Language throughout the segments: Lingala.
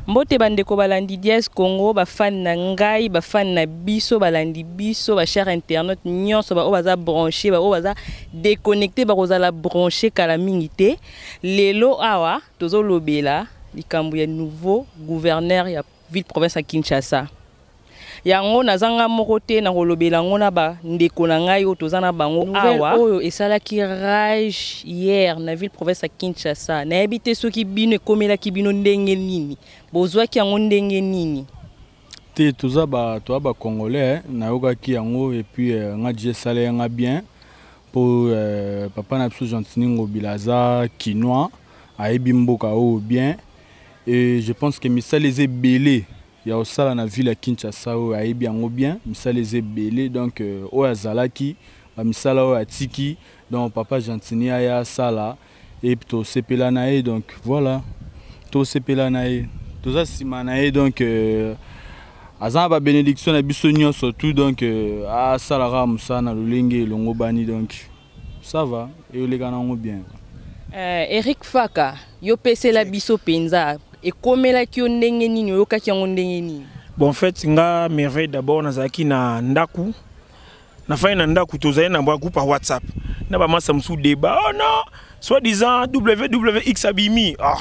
Mbote bandeko balandi Dies Congo, ba fan na ngai, ba fan na biso, balandi biso, ba chers internautes nyonso ba oyo baza branché, ba oyo baza déconnecté bakozala branché kala mingi te. Lelo awa tozolobela likambo ya nouveau gouverneur ya ville province ya Kinshasa. yango naza nga moko te na kolobela yango na bandeko na ngai oyo toza na bango awa oyo esalaki rage hier na ville province ya kinshasa nayebi te soki bino ekomelaki bino ndenge nini bozwaki yango ndenge nini te toza bato ya bacongolais nayokaki yango epuis eh, nga je esala ya nga bien mpo eh, papa na biso gentini ngobila aza kinois ayebi mboka oyo bien e je pense ke misala eza ebele ya osala na ville ya Kinshasa oyo ayebi yango bien misala eza ebele donc euh, oyo azalaki bamisala oyo atiki donc papa gentini aya asala e tosepela na ye donc voilà tosepela na ye toza nsima na ye donc euh, aza na babenediction na biso nyonso tout donc euh, asalaka mosala na lolenge elongobani donc Ça va, et yo leka nango bien. Euh, Eric Faka, yo pesela biso penza. Ekomelaki yo ndenge nini, oyokaki yango ndenge nini? Bon, en fait, nga merveille d'abord nazalaki na ndaku. Nafai na ndaku tozali na bwa groupe WhatsApp. Na ba masa musu débat. Oh non, soit disant WWX abimi. Ah.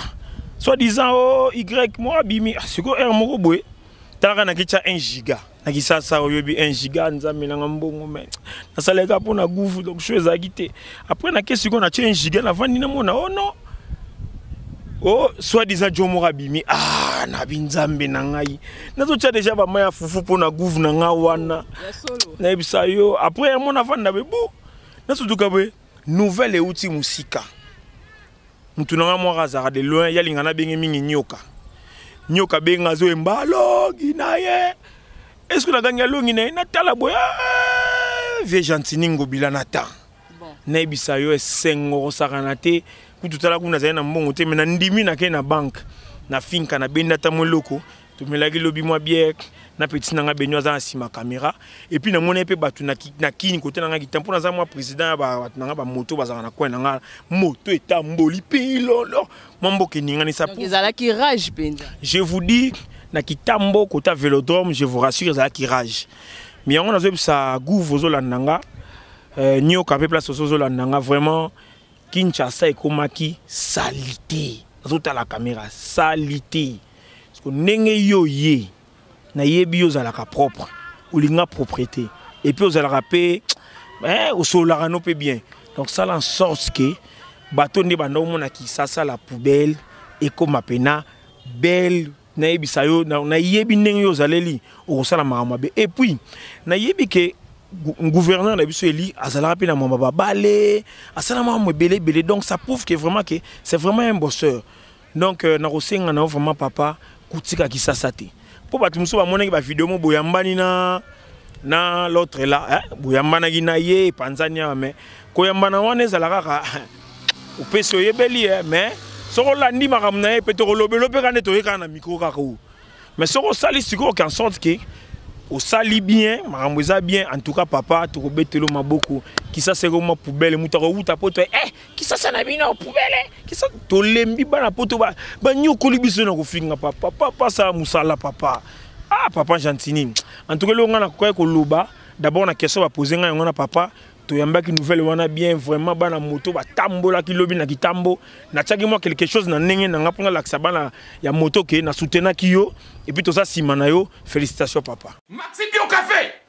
Soit disant oh Y moi abimi. Ah, siko R moko boye. Talaka na kicha 1 giga. na kisasa oyebi 1 giga nzambe nanga mbongo me nasalaka mpo na guvu donc sho ezalaki te après nake sikoyo natye 1 giga navandi namona o oh non o oh, soit disant jo moko abimi ah na binzambe na ngai nazotya deja bama ya fufu mpo na guvu na ngai wana nayebisa yo après yango navanda bebo nasutuka boye nouvelle euti mosika motu na ngai mwaka azalaka de loin yalinga nabengi mingi nyoka nyoka abenga azoyemba alongi na ye eske nagangi alongi na ye natala boye ah, vie gentini ngobila na temps nayebisa yo esengo kosakana te kutu tala kuna nazali na mbongo te me nandimi nake na banke nafinka nabendi ata mwa eloko tomelaki lobi mwa biere na petit na ngai beni aza na nsima kamera epuis namonai mpe bato na kini kote na ngai kita mpo naza mwa président ya bato na ngai bamoto bazalaka na coin na ngai moto etamboli mpe ilolo mwa mboka eninganisa ezalaki rage mpenza je vous dis na kitambo kota velodrome je vous rassure ezalaki rage mi yango nazoyebisa gouve ozolanda nga euh, nioka mpe place oso ozolanda nga vraiment kinshasa ekomaki salite nazotala kamera salite siko ndenge yo ye nayebi yo ozalaka propre olinga propriété et puis ozalaka mpe eh, osololaka no mpe bien donc sala en sorte ke bato nde banda omona kisasa la poubelle ekoma mpena belle nayebisa yo nayebi ndenge yo ozaleli okosala makambo mabe et puis nayebi ke gouverneur na biso eli azalaka mpe na mama babale asala makambo ebele ebele donc ça prouve que vraiment que c'est vraiment un bosseur donc euh, nakosenga na yo vraiment papa kotika kisasa te mpo bato mosusu bamonaki bavideo mo boyambani na na l'autre la eh, boyambanaki na ye epanzani awa mais koyambana wana ezala kaka opesi oyebeli ye eh, mais soki olandi makambo na ye mpe tokolobelo mpe kaka nde toye kaka na mikro kaka oyo mais soki osali sikoyo qu'en sorte ke osali bien makambo eza bien en tout cas papa tokobetelo maboko kisasa ekoma poubele moto akowuta mpo to eh kisasa na bino pubele kisa tolembi bana poto banyokoli biso na kofinga papa papa sala mosala papa ah papa gentini en tout cas eloko ngai nakokaki koloba d'abord na question bapose ngai yango na papa toyambaki nouvelle wana bien vraiment bana moto batambolaki lobi na kitambo natiaki mwa quelque chose na ndenge na ngai mpo nalakisa bana ya moto ke na soutenaki yo epuis toza nsima na yo félicitation papa maxi bio café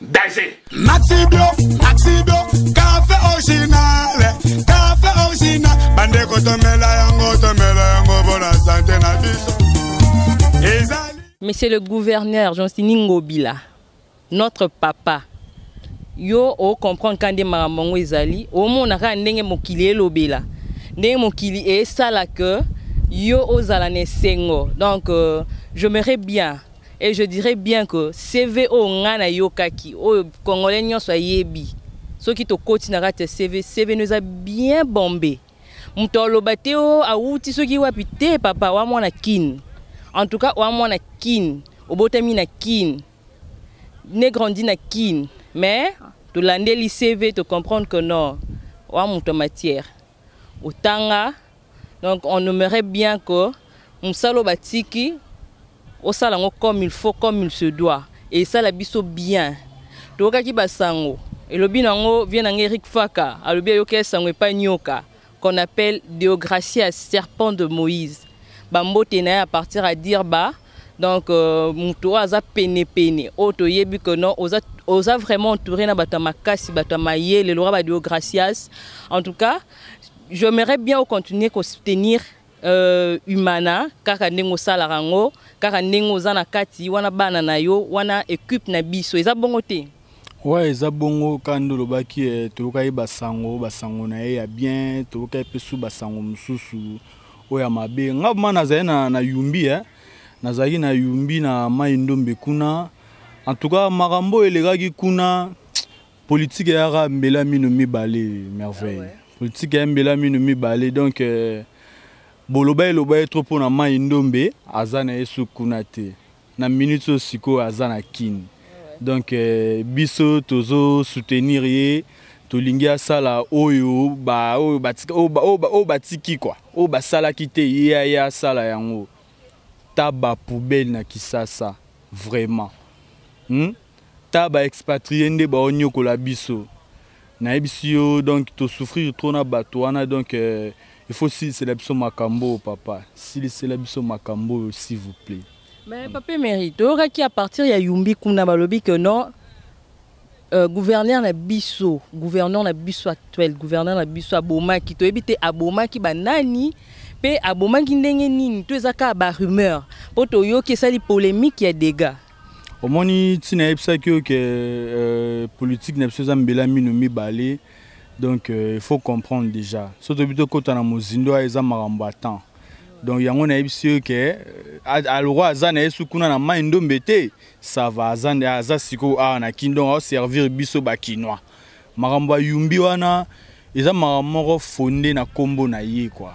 danger maxi bio maxi bio café original café original bandeko tomela yango tomela yango mpo na sante na biso ezali monsieur le gouverneur jonsini ngobila notre papa yo ocomprendre ka nde makambo yango ezali omona kaka ndenge mokili elobela ndenge mokili esala que yo ozala na esengo donc euh, j'aimerais bien Et je dirais bien que CV oyo nga na yokaki oyo congolais nyonso ayebi soki tokoti na kati ya CV CV no eza bien bombe moto aloba te o oh, awuti soki wapi te papa wa mwana kin en tout cas wa mwana kin obotami na kin ne grandi na kin mais tolandeli CV to comprendre que non wa moto ya matière otanga donc on aimerait bien que mosala batiki osala yango comme il faut comme il se doit esala biso bien toyokaki basango elobi na yango vie na ngai erik faka alobi ayoki esango epai nyoka qu'on appelle deogracia serpent de moïse bambote na ye à partir à dire ba donc euh, moto oyo aza penepene oyo toyebi que non oza, oza vraiment entouré na bato ya makasi bato ya mayele loka badio gracias en tout cas j'aimerais bien ocontinue kosoutenir euh, humana kaka ndenge osalaka yango kaka ndenge oza na kati wana bana na yo wana equipe na biso eza bongo te Ouais, eza bongo kando lobaki eh, toyoka ye basango basango na ye ya bien toyoka ye mpe su basango mosusu oyo ya mabe nga ma nazali na, na yumbi eh. nazalaki na yumbi na mai ndombe kuna en tout cas makambo oyo elekaki kuna politike eyaka mbela mino mibale merveille ah ouais. politike ya mbela mino mibale donc eh, boloba eloba ye trop mpo na mai ndombe aza na ye su kuna te na minute oyo sikoyo aza na kin donc euh, biso tozo soutenir ye tolingi asala oyo ba oyo batika oyo ba oyo ba oyo batiki kwa oyo basalaki te ye aye asala yango ta ba poubelle na kisasa vraiment hmm? ta ba expatrier nde bao nyokola biso nayebisi yo donc to souffrir trop na bato wana donc euh, il faut silisela biso makambo oyo papa silisela biso makambo oyo s'il vous plaît mais papa emery toyokaki à partir ya yumbi kuna balobi que non Euh, gouverneur na biso gouverneur na biso actuel gouverneur na biso abomaki toyebi te abomaki banani mpe abomaki ndenge nini to eza kaka barumeur mpo toyoki esali polémique ya dégâts omoni ntina ayebisaki yo ke euh, politike na biso eza mbela mino mibale donc euh, il faut comprendre déjà so toyebi tokɔta na mozindo aya eza makambo ya temps donc yango nayebisi yo ke euh, alokwa aza na ye su kuna na mai ndombe te sava aza sikoyo awa na kin donc aoservir biso bakinois makambo ya yumbi wana eza makambo moko fonde na nkombo na ye kua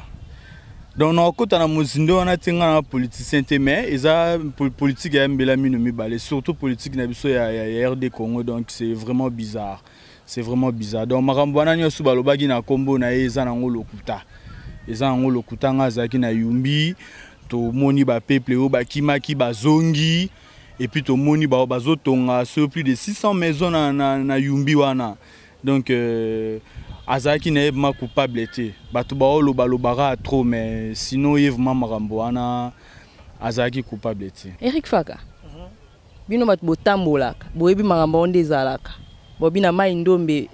donc nakokota na mozindo wana te ngai na politicien te mais eza politike ya mbela mino mibale surtout politike na biso ya, ya, ya rd congo donc c'est vraiment bizarre c'est vraiment bizarre donc makambo wana nyonso balobaki na nkombo na ye eza nango lokuta eza nango lokuta ngai azalaki na yumbi tomoni bapeuple oyo bakimaki bazongi et puis tomoni ba bazo tonga sur plus de 600 maisons na na, na Yumbi wana donc euh, azalaki na ye vraiment coupable te bato baoloba lobaka trop mais sinon ye vraiment makambo wana azalaki coupable te Eric Faka bino bato botambolaka boyebi makambo yango nde ezalaka bobi na mai ndombe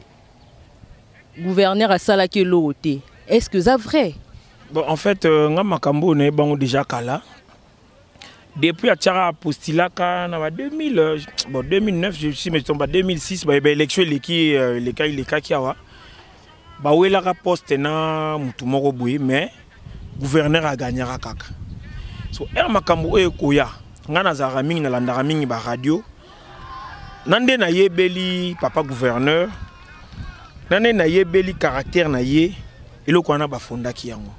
gouverneur asalaki eloko te est ce que eza vrai bon en fait euh, nga makambo oyo nayebi bango déjà kala depuis atiaka apostulaka na ba 2000 euh, bon 2009 je suis mais tomba 2006 ba élection eleki euh, eleka elekaki awa bawelaka poste na motu moko boye mais gouverneur agagnaka kaka so ere makambo oyo ekoya ngai nazalaka mingi nalandaka mingi baradio na nde nayebeli papa gouverneur na nde nayebeli caractère na ye eloko wana bafondaki yango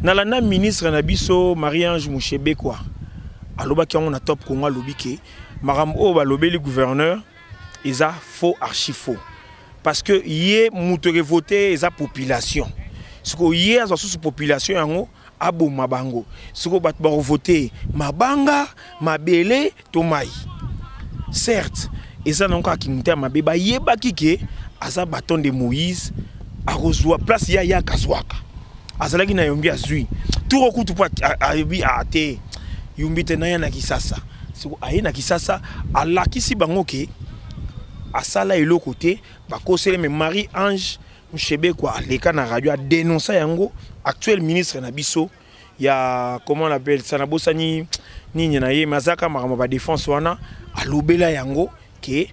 nalanda ministre na biso marie ange mushebekwa alobaki yango na top congo alobi ke makambo oyo balobeli gouverneur eza faux archi faux parce que ye moto ekevote eza population sikoyo ye azwa susu population yango aboma bango soko bato bakovote mabanga mabele to mai certes eza nango kaka kimotema mabe bayebaki ke aza baton de moïse akozwa place ya ye akazwaka azalaki na yombi azwi turo kutu mpo ayebi a te yombi te naya na kisasa soko aye na kisasa alakisi bango ke asala eloko te bakosele me marie ange Mushebekwa aleka na radio a denoncer yango actuel ministre na biso ya comment on appelle ça na bosani nini na ye mazaka makambo ba défense wana alobela yango ke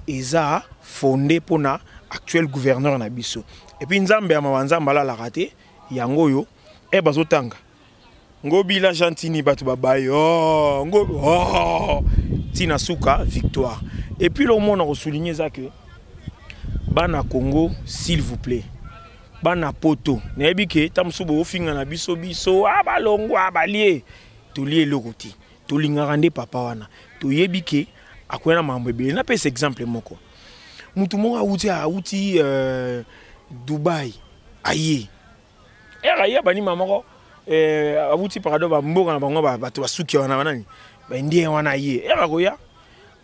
eza fondé pona actuel gouverneur na biso et puis nzambe ya mawa nzambe alalaka te yango oyo e eh, bazotanga ngobila gentini bato babaye oh, ngo oh, ntina suka victoire epuis eloko moko na kosouligne eza ke bana congo s'il vous plaît bana poto nayebi ke ta mosusu bokofinga na biso biso a ah, balongwa ah, balie tolie eloko te tolingaka nde papa wana toyebi ke akoya na makambo ebele napesa exemple moko motu moko awuti awuti euh, dubai aye ere aye banima moko eh, awuti parado bamboka na bango bato basuki wana banani baindien wana aye ere akoya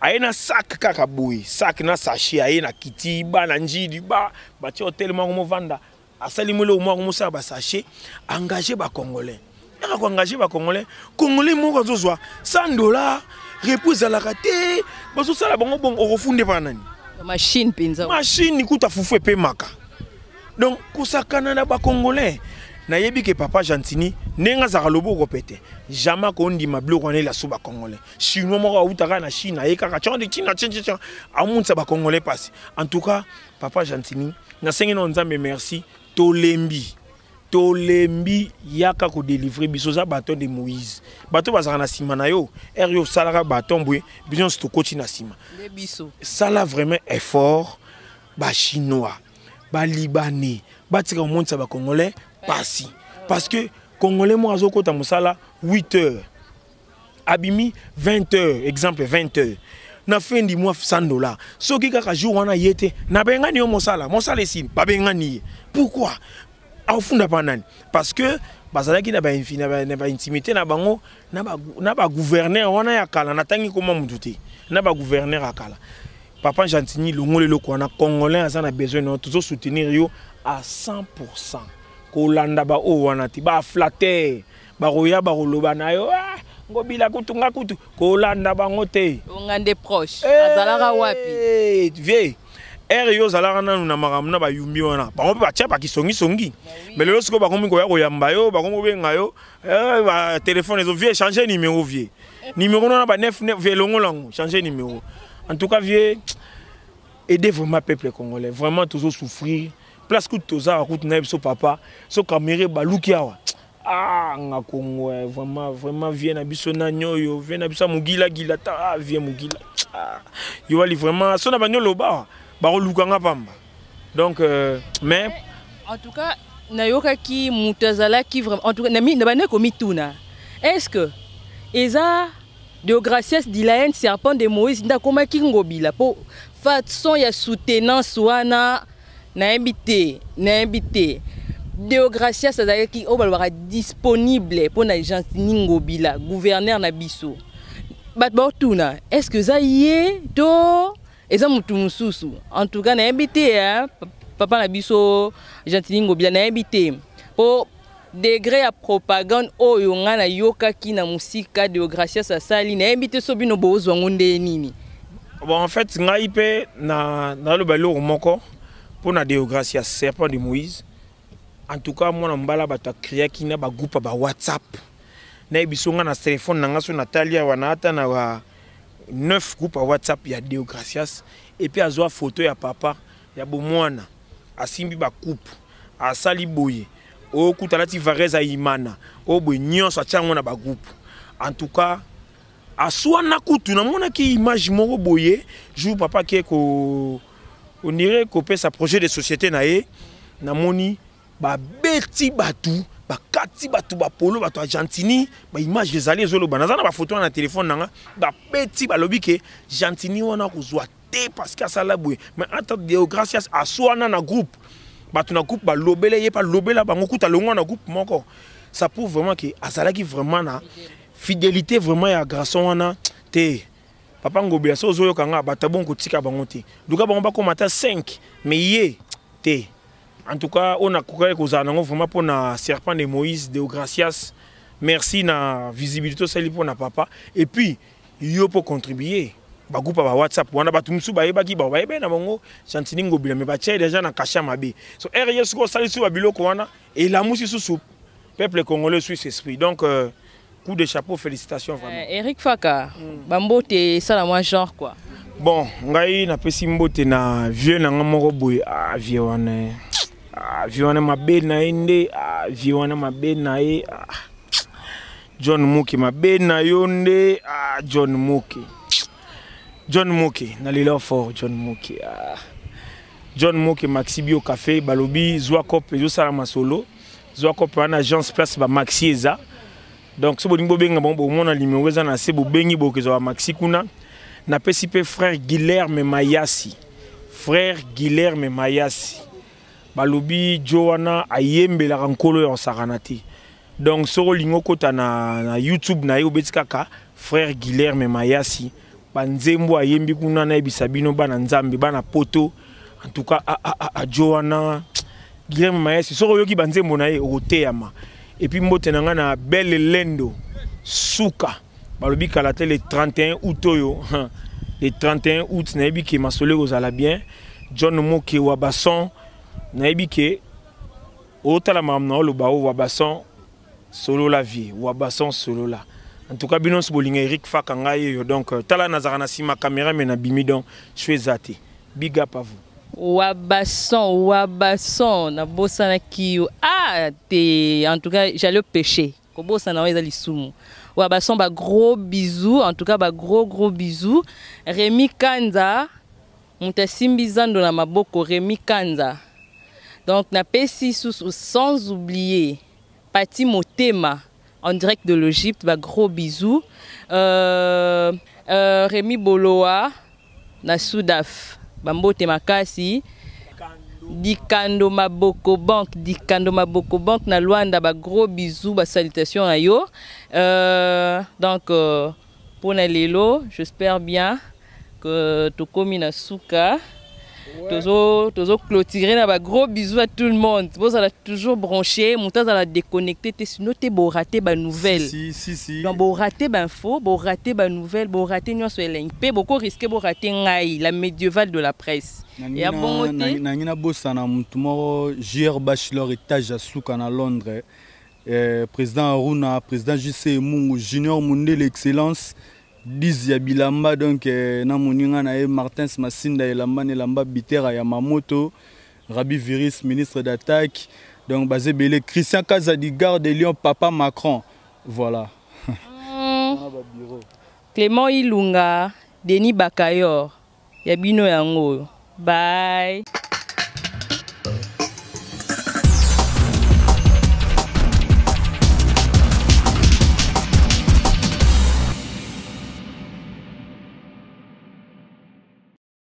aye na sak kaka boye sak na sache aye na kiti bana njidi ba batie hotel moko movanda asali moloko moko mosala basache engage bacongolais yaka ko engage ba congolais congolais moko azozwa 100 dollars repos ezalaka te bazosala bango bongo okofunde mpa nani machine mpenza machine kuta fufu epemaka donc kosakana na bacongolais nayebi ke papa gentini ndenge azalaka loboko pete jamais akondima biloko wana elaso bacongolais chinois moko awuta kaka na chine aye kaka cande china cca amonisa bacongolais mpasi en tout cas papa gentini nasengi nao nzambe merci tolembi tolembi yaka kodelivre biso oza baton de moïse bato bazalaka na nsima na yo ere yo osalaka baton boye biso nyonso tokoti na nsima sala vraiment effort bachinois balibanais batika komonisa bacongolais pasi parce que congolais moko azokota mosala 8 heures abimi 20 heures exemple 20 heures na fin du mois 100 dollars soki kaka jour wana ye te nabengani yo mosala mosala esili babengani ye pourquoi afunda mpa nani parce que bazalaki na baintimité na bango na bagouverneur wana ya kala natangi koma motu te na bagouverneur ya kala papa gentini longoli eloko wana congolais aza na besoin na yo tozo soutenir yo à 100 kolanda baoyo wana te baflatere bakoya bakoloba na yo ah, ngobila kutu nga kutu kolanda bango te onga nde proche eh, azalaka wapi vie ere yo ozalaka nanu na makambo na bayumbi wana bango mpe batya bakisongisongi eh me lelo sikoyo bakomi koya koyamba yo bakomi kobenga yo eh, batelefone ezo vie change numero vie numero nona ba 9 vie elongola yango change numero en tout cas vie aide vraiment peuple congolais vraiment tozo souffrir place kutu tozalaka kutu na ye biso papa so kamere baluki awa Ah, nga Congo, eh, vraiment, vraiment, vieux na biso na nyoyo, vieux na biso mugila gila ta, ah, vieux mugila. Ah, yo ali vraiment, sona ba nyolo ba, ba luka nga pamba. Donc, euh, mais en tout cas, na yoka ki mutazala ki vraiment, en tout cas, na mi na bane ko mituna. Est-ce que eza de gracias de la haine serpent de Moïse nda koma ki ngobila po façon ya soutenance wana nayebi te nayebi te deogracias azalaki oyo balobaka disponible mpo na gentini ngobila gouverneur na biso bato baotuna est ce que eza ye to eza motu mosusu en tout cas nayebi te papa na biso gentini ngobila nayebi te mpo degre ya propagande oyo ngai nayokaki na mosika deogracias asali nayebi te so bino bozwa yango ndeye nini bon en fait ngai mpe naloba na eloko moko mpo na deogracias serpent de moïse en tout cas mwana mbala bato akreaki na bagroupe ya bawhatsapp nayebi so ngai na telefone na ngai so natali awa na ata na ba 9 groupe ya whatsapp ya deogracias epuis azwa foto ya papa ya bomwana asimbi ba coupe asali boye okuta alati varese ayimana oyo boye nyonso atya yango na bagroupe en tout cas aswana kutu namonaki image moko boye jour papa ake ko onire kopesa projet de société na ye namoni babeti bato bakati bato bapolo bato ya gentini baimage ezali ezoloba naza na bafoto wana na telefone na nga babeti balobi ke gentini wana kozwa te parce que asala boye mais entre deogracias aswana na groupe bato na groupe balobela ye balobela bango kuta longwa na groupe moko ça prouve vraiment que azalaki vraiment na fidélité vraiment ya garçon wana te papa ngobela so ozoyoka nga bato abongo kotika bango te luka bango bakoma ata 5 mais ye te en tout cas oyo nakokaki kozala nango vraiment mpo na serpent de moïse deogracias merci na visibilité osali mpo na papa et puis yo mpo contribuer bagroupe ya ba whatsapp wana bato mosusu bayebaki bao bayebaki na bango chantini ngobila me batye deja na kasha mabe so ere ye soki osalisi ba biloko wana elamusi susu peuple congolais suisse esprit donc euh, coup de chapeau félicitations vraiment euh, eric faka mm. bambote esala mwa genre quoi bon ngai napesi mbote na vieux na ngai moko boye ah, vieux wana eh. ah, vieux wana mabe na ye nde ah, vieux wana mabe na ye ah. John Muki mabe na yo nde ah, John Muki John Muki nalela fort John Muki ah. John Muki Maxi Bio Café balobi zwa cop ezosala masolo zwa cop wana agence place ba Maxi eza donc soki bolingi bobenga bango bomona limero eza na se bobengi bokezwa ba Maxi kuna napesi mpe frère Guilherme Mayasi frère Guilherme Mayasi balobi jo wana ayembelaka nkolo ya osakana te donc soki olingi okota na, na youtube na ye obeti kaka frère guilherme mayasi banzembo ayembi kuna nayebisa bino bana nzambe bana poto en tout cas ajo wana guilherme mayasi soki oyoki banzembo na ye okoteyama epuis mbote na ngai na belle lendo suka balobi kala te le 31 août oyo le 31 août nayebi ke masolo ekozala bien john moke wa bason nayebi ke otala makambo na oloba o wa bason solola vie wa bason solola en tout cas bino nyonso bolinga eric faka ngai oyo donc euh, tala nazalaka na nsima caméra me nabimi donc sho eza te big up à vous wabason wabason nabosanaki yo ah te en tout cas j'allais pécher kobosana oyo eza lisumu wa bason ba gros bisous en tout cas ba gros gros bisous Remy Kanza moto asimbi zando na maboko Remy Kanza donc napesi susu sans oublier Pati Motema en direct de l'Egypte ba gros bisous euh, euh, Remy Boloa na sudaf bambote makasi dikando maboko banque dikando maboko banque na luanda bagros bisous basalutation na yo euh, donc euh, mpo na lelo j'espère bien que tokomi na suka tozo tozo clôturer na ba gros bisous à tout le monde bozala toujours branché moto azala déconnecté te sinon te borate ba nouvelle si, si, si. donc borate bainfo borate ba nouvelle borate nyonso elengi mpe boko risque borate ngai la médievale de la presse ya bongo te nangi nabosana motu moko jr bachelor étage ya suka na londres eh, président aruna président jc mungu junior mundele excellence 10 ya bilamba donc euh, na moninga na ye Martins Masinda elamba na elamba bitera ya Mamoto Rabi Virus ministre d'attaque donc baze belé Christian Kaza du garde de Lyon papa Macron voilà mm. Clément Ilunga Denis Bakayor Ya bino yango oyo. Bye.